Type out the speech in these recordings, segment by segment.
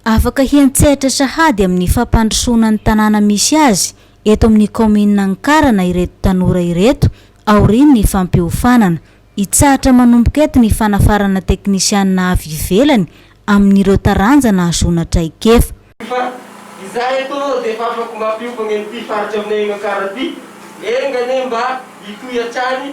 Afaka hiantsehatra sahady amin'ny fampandrosoana ny tanàna misy azy eto amin'ny kaominina Ankarana ireto tanora ireto aorian'ny fampiofanana. Hitsahatra manomboka eto ny fanafarana teknisianina avy ivelany amin'ireo taranja nahazoana traikefa. Fa izahay eto aloha dia efa afaka mampiofagna an'ity faritra aminay Ankaran ity. Enga anie mba hitohy hatrany.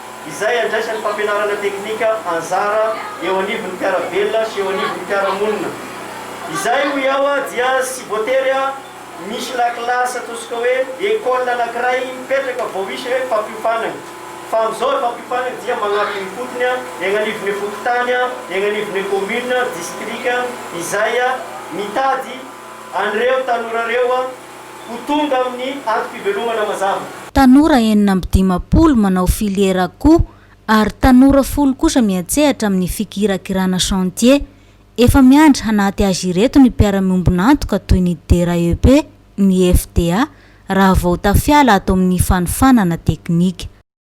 izay andraisan'ny fampianarana teknika anjara eo anivon'ny mpiara-belona sy eo anivon'ny mpiara-monina. Izay, hoy aho, dia tsy voatery misy lakilasy ataontsika hoe école anankiray mipetraka vao hisy hoe fampiofanana. Fa amin'izao ny fampiofanana dia magnatona ifotony eny anivon'ny fokontany, eny anivon'ny commune, district, izay mitady an'ireo tanora ireo, ho tonga amin'ny antom-pivelomana mazava. Tanora enina amby dimampolo manao filiera akoho ary tanora folo kosa miantsehatra amin'ny fikirakirana chantier. Efa miandry hanaty azy ireto ny mpiara-miombon'antoka toy ny DRAEP, ny FDA raha vao tafiala ato amin'ny fanofanana teknika.